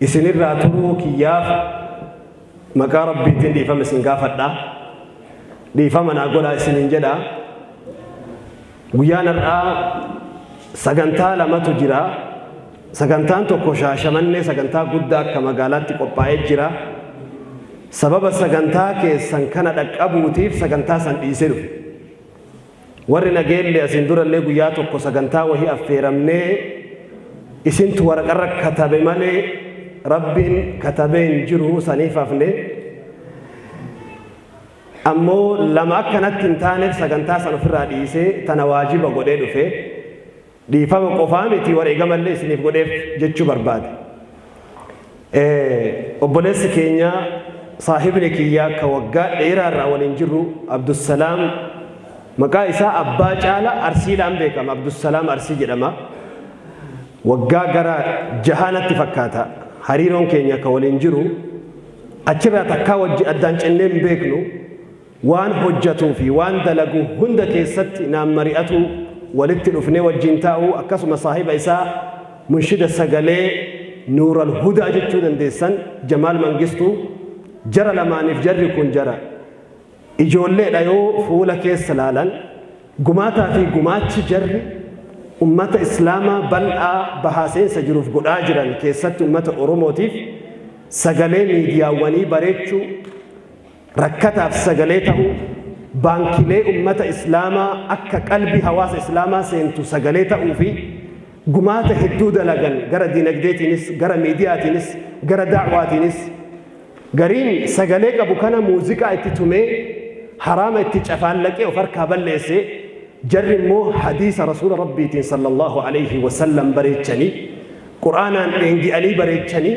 Isin irraa turuu kiyyaaf maqaa Rabbiitiin dhiifama isin gaafadha. Dhiifama naa godhaa isiniin jedha. Guyyaan har'aa sagantaa lamatu jira. Sagantaan tokko shaashamannee sagantaa guddaa akka magaalaatti qophaa'ee jira. Sababa sagantaa keessan kana dhaqqabuutiif sagantaa san dhiisee dhufe. Warri Nageellee asiin durallee guyyaa tokko sagantaa wahii affeeramnee isintu waraqarra katabe malee Rabbiin katabee hin jiru saniif hafne. Ammoo lama akka natti hin taaneef sagantaa san ofirraa dhiisee tana waajiba godhee dhufe. Dhiifama qofaa miti wareegamallee isiniif godheef jechuu barbaade. Obboleessi keenya saahibni kiyyaa ka waggaa dheeraa irraa waliin jirru Abdussalaam maqaa isaa abbaa caala arsiidhaan beekama Abdussalaam arsii jedhama. Waggaa gara jahaa natti fakkaata hariiroon keenya ka waliin jiru achirraa takkaa wajji addaan cinnee hin beeknu. Waan hojjatuu fi waan dalagu hunda keessatti naan mari'atuu, walitti dhufnee wajjiin taa'uu akkasuma saahiba isaa munshida sagalee Nuural Hudaa jechuu dandeessan Jamaal Mangistuu jara lamaaniif jarri kun jara ijoollee dha yoo fuula keessa laalan gumaataa fi gumaachi jarri ummata Islaamaa bal'aa bahaa seensa jiruuf godhaa jiran keessatti ummata Oromootiif sagalee miidiyaawwanii bareechuu rakkataaf sagalee ta'uu, baankilee ummata Islaamaa akka qalbii hawaasa Islaamaa seentu sagalee ta'uu fi gumaata hedduu dalagan gara diinagdeetiinis, gara miidiyaatiinis, gara da'waatiinis. Gariin sagalee qabu kana muuziqaa itti tumee haraama itti cafaallaqee of harkaa balleesse, jarri immoo hadiisa Rasuula Rabbiitiin sallallaahu aleyhi wa sallam bareechanii, Qur'aanaan dheengi'anii bareechanii,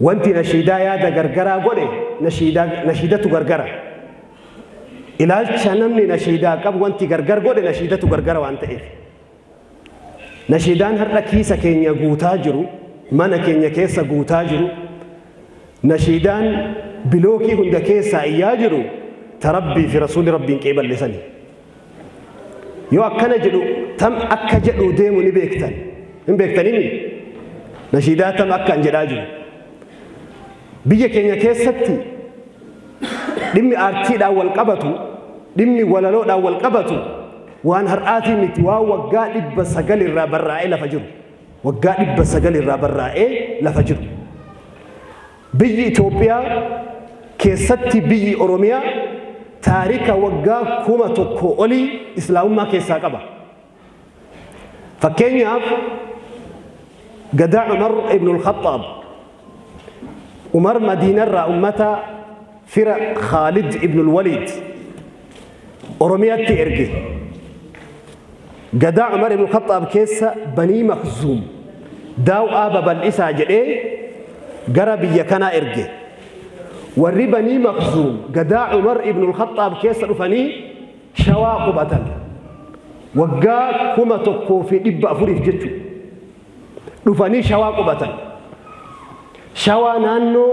Wanti nashiidaa yaada gargaraa godhe nashiidaa nashiidatu gargara. Ilaalcha namni nashiidaa qabu wanti gargar godhe nashiidatu gargara waan ta'eef. Nashiidaan har'a kiisa keenya guutaa jiru, mana keenya keessa guutaa jiru, nashiidaan bilookii hunda keessaa iyyaa jiru ta Rabbii fi Rasuulli Rabbiin qeeballe sani. Yoo akkana jedhu tam akka jedhu deemu ni beektan. Hin beektanimi? Nashiidaa tam akka hin jedhaa jiru. Biyya keenya keessatti dhimmi aartiidhaan wal qabatu, dhimmi walaloodhaan wal qabatu waan har'aatii miti waan waggaa dhibba sagal irraa barraa'ee lafa jiru. Waggaa dhibba sagal irraa barraa'ee lafa jiru. Biyyi Itoophiyaa keessatti biyyi Oromiyaa taarika waggaa 1000 olii Islaamummaa keessaa qaba. Fakkeenyaaf Gadaa Umar Ibnul Khaxxaab, Umar Madiinarraa ummata fira Khaalid ibnul Waliid Oromiyaatti erge. Gadaa Umar ibn Khaxxaab keessa Banii Makzuum daaw'aa babal'isaa jedhee gara biyya kanaa erge. Warri Banii Makzuum gadaa Umar ibn Khaxxaab keessa dhufanii shawaa qubatan. Waggaa kuma tokkoo fi dhibba afuriif jechuudha. dhufanii shawaa qubatan. Shawaa naannoo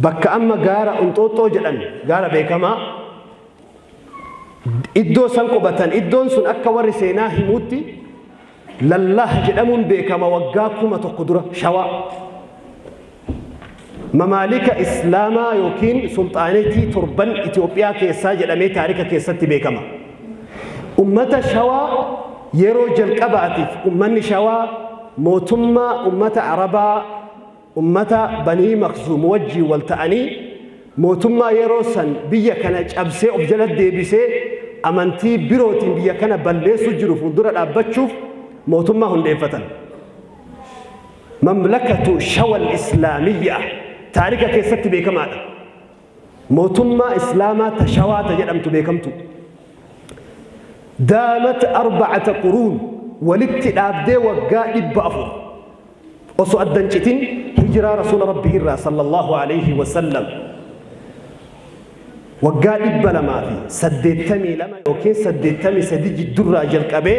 bakka amma gaara Onxooxxoo jedhan gaara beekamaa iddoo san qubatan iddoon sun akka warri seenaa himuutti lallaah jedhamuun beekama waggaa kuma tokko dura shawaa. Mamaalika Islaamaa yookiin Sulxaanetii torban Itoophiyaa keessaa jedhamee taarika keessatti beekama. Ummata Shawaa yeroo jalqabaatiif ummanni Shawaa mootummaa ummata Arabaa ummata Banii Makzuum wajjin wal ta'anii mootummaa yeroo san biyya kana cabsee of jala deebisee amantii birootiin biyya kana balleessuu jiru fuuldura dhaabbachuuf mootummaa hundeeffatan. Mamlakatu Shawal Islaamiyyaa taarika keessatti beekamaadha. Mootummaa Islaamaa ta Shawaa ta jedhamtu beekamtu. Daamat arbacata quruun walitti dhaabdee waggaa dhibba afur osoo adda hin citin hijiraa Rasuula Rabbii irraa sallallahu alayhi wa sallam waggaa dhibba lamaa fi saddeettamii lama yookiin saddeettamii sadi jiddurraa jalqabee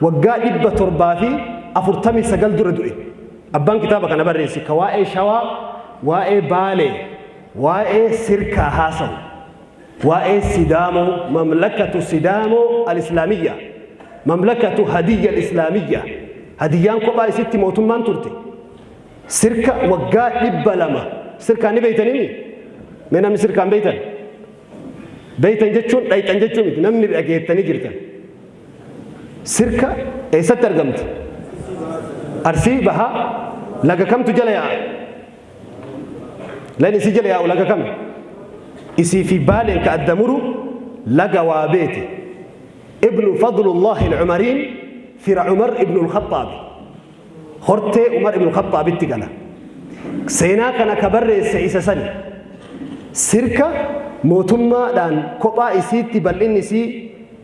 Waggaa 749 dura du'e. Abbaan kitaaba kana barreesse ka waa'ee Shawaa, waa'ee Baalee, waa'ee Sirkaa haasawu, waa'ee Sidaamoo, Mamlakatu Sidaamoo Al-Islaamiyyaa, Mamlakatu Hadiyya Al-Islaamiyyaa, Hadiyyaan kophaa isitti mootummaan turte, Sirka waggaa 200, Sirkaa ni beeytanimi? Mee namni Sirkaan beeytan? Beeytan jechuun dhayxan jechuu miti, namni dhageettanii jirtan. Sirka eessatti argamti? Arsii bahaa laga kamtu jala yaa'a? Lagni isii jala yaa'u laga kami? Isii fi Baaleen ka adda muru laga Waabeeti. Ibnu Fadlullaahil Umariin fira Umar ibnul Khaxxaabi. hortee Umar ibn Khaxxaabitti gala. Seenaa kana ka barreesse isa sani. Sirka mootummaadhaan kophaa isiitti bal'inni isii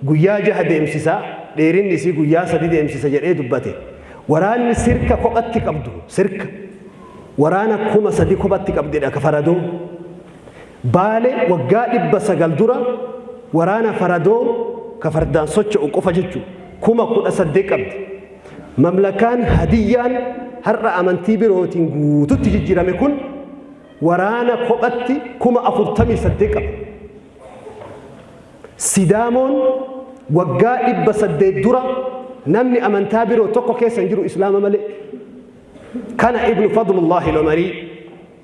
guyyaa jaha deemsisa, dheerinni isii guyyaa sadi deemsisa jedhee dubbate. Waraanni sirka kophatti qabdu, sirka, waraana kuma sadi kophatti qabdedha ka faradoo. Baale waggaa dhibba sagal dura waraana faradoo ka fardaan socho'u qofa jechu kuma kudha saddeet qabdi. Mamlakaan Hadiyyaan har'a amantii birootiin guututti jijjiirame kun waraana kophatti kuma afurtamii saddeet qaba. Sidaamoon waggaa dhibba saddeet dura namni amantaa biroo tokko keessa hin jiru Islaama malee. Kana Ibnu Fadlullaahi Lomarii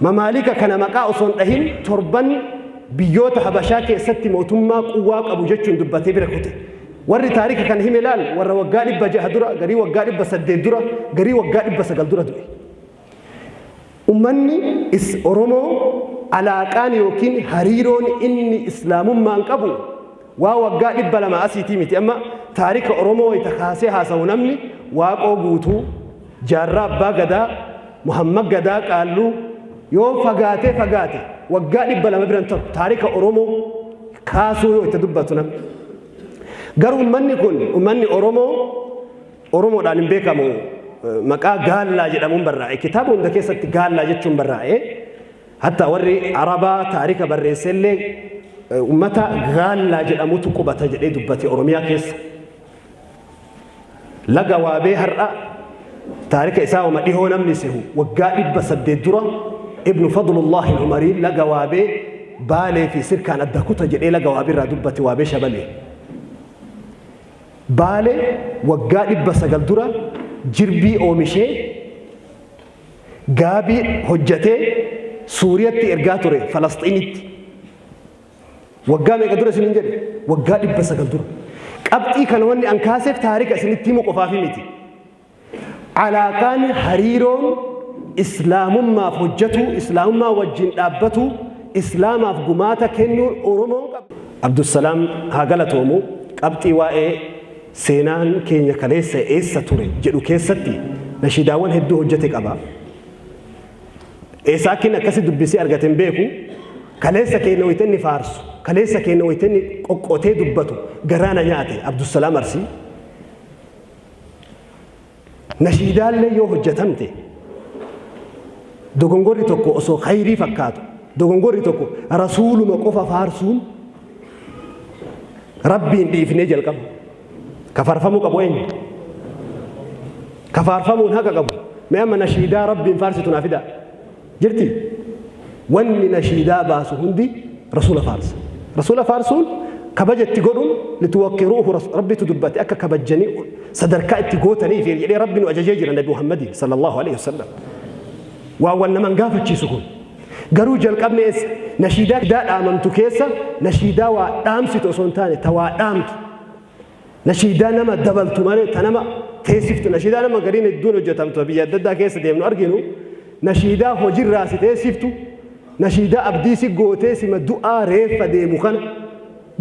Mamaalika kana maqaa osoo hin dhahin torban biyyoota Habashaa keessatti mootummaa quwwaa qabu jechuun dubbatee bira kute. Warri taarika kana hime laal warra waggaa dhibba jaha dura, garii waggaa dhibba saddeet dura, garii waggaa dhibba sagal dura du'e. Ummanni is Oromoo alaaqaan yookiin hariiroon inni Islaamummaan qabu Waa waggaa dhibba lama asiitii miti amma taarika Oromoo wayita kaasee haasawu namni Waaqoo Guutuu, Jaarraa Abbaa Gadaa, Muhammad Gadaa Qaalluu yoo fagaatee fagaate waggaa dhibba lama bira hin tahu taarika Oromoo kaasuu yoo itti dubbatu namni. Garuu ummanni kun ummanni Oromoo Oromoodhaan hin beekamu maqaa Gaallaa jedhamuun barraa'e kitaaba hunda keessatti Gaallaa jechuun barraa'e. Hatta warri Arabaa taarika barreesse illee uummata Gaallaa jedhamutu qubata jedhee dubbate Oromiyaa keessa. Laga Waabee har'a taarika isaa uma dhihoo namni sehu waggaa dhibba saddeet dura Ibnu Fadlullahi Umariin laga Waabee Baalee fi Sirkaan adda kuta jedhee laga Waabee irraa dubbate Waabee Shabalee. Baalee waggaa dhibba sagal dura jirbii oomishee gaabii hojjatee Suuriyatti ergaa ture Falasxiinitti. Waggaa meeqa dura isiniin jedhe? Waggaa dhibba sagal dura. Qabxii kana wanni an kaaseef taarika isinitti himu qofaafi miti. Alaaqaan hariiroon islaamummaaf hojjetuu, islaamummaa wajjin dhaabbatuu, islaamaaf gumaata kennuun Oromoon qabu. Abdusalaam haa galatoomu qabxii waa'ee Seenaan keenya kaleessa eessa ture jedhu keessatti nashiidaawwan hedduu hojjete qaba. Eessaa akkin akkasi dubbisee argate hin beeku. Kaleessa keenya wayita inni faarsu, kaleessa keenya wayita inni qoqqotee dubbatu garaa na nyaate Abdusalaam Arsii. Nashiidaallee yoo hojjatamte dogongorri tokko osoo khayrii fakkaatu dogongorri tokko rasuuluma qofa faarsuun rabbiin dhiifnee jalqabu ka faarfamuu qabu eenyu ka faarfamuun haqa qabu mee amma nashiidaa rabbiin faarsitu naa fidaa Jirti. Wanni nashiidaa baasu hundi Rasuula faarsa. Rasuula faarsuun kabaja itti godhuun lituwaqqiruuhu Rasu- Rabbitu dubbate akka kabajjanii sadarkaa itti gootaniif jedhee Rabbi nu ajajee jira Nabi Muhammadiin sallallahu alaihi wasallam. Waa wal naman gaafachiisu kun. Garuu jalqabni eessa? Nashiidaa dhaamamtu keessa nashiidaa waa dhaamsitu osoo hin taane ta waa dhaamtu. Nashiidaa nama dabaltu malee ta nama teessiftu nashiidaa nama gariin hedduun hojjetamtu biyya adda addaa keessa deemnu arginu nashiidaa hojirraa si teessiftu nashiidaa abdii si gootee sima du'aa reeffa deemu kana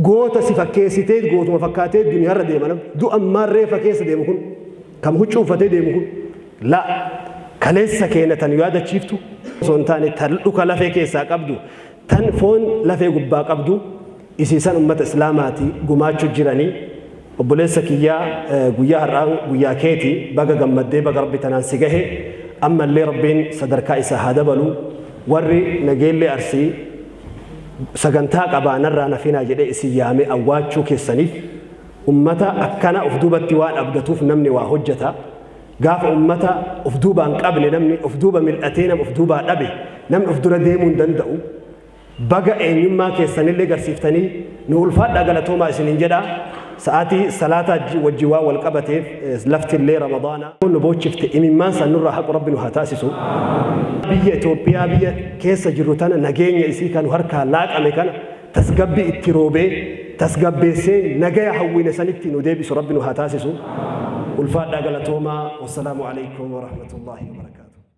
goota si fakkeessitee gootuma fakkaatee duniyaarra deema nama du'a ammaan reeffa keessa deemu kun kam huccuu uffatee deemu kun la kaleessa keenya tan yaadachiiftu osoo hin taane tan dhuka lafee keessaa qabdu tan foon lafee gubbaa qabdu isiisan ummata islaamaati gumaachu jirani obboleessa kiyyaa guyyaa har'aan guyyaa keeti baga gammaddee baga rabbi tanaan si gahe amma illee rabbiin sadarkaa isaa haa dabalu warri nageellee arsii sagantaa qabaa narraa nafinaa jedhee isin yaamee awwaachuu keessaniif ummata akkana of duubatti waan abdatuuf namni waa hojjeta gaafa ummata of duubaan qabne namni of duuba mil'atee nam of duubaa dhabe namni of dura deemuu hin danda'u Baga eenyummaa keessanillee garsiiftanii nuu ulfaadhaa galatoomaa isiniin jedha. Sa'aatii salaataa wajjin waan wal qabateef laftillee ramadaana nu boochifte imimmaan san nurraa haqu rabbi nu haa taasisu. Biyya Itoophiyaa biyya keessa jirru tana nageenya isii kan harkaa laaqame kana tasgabbi itti roobee tasgabbeessee nagaya hawwine sanitti nu deebisu rabbi nu haa taasisu. Ulfaadhaa galatoomaa. Wassalaamu alaikum warahmatullaahi wabarakaatuh.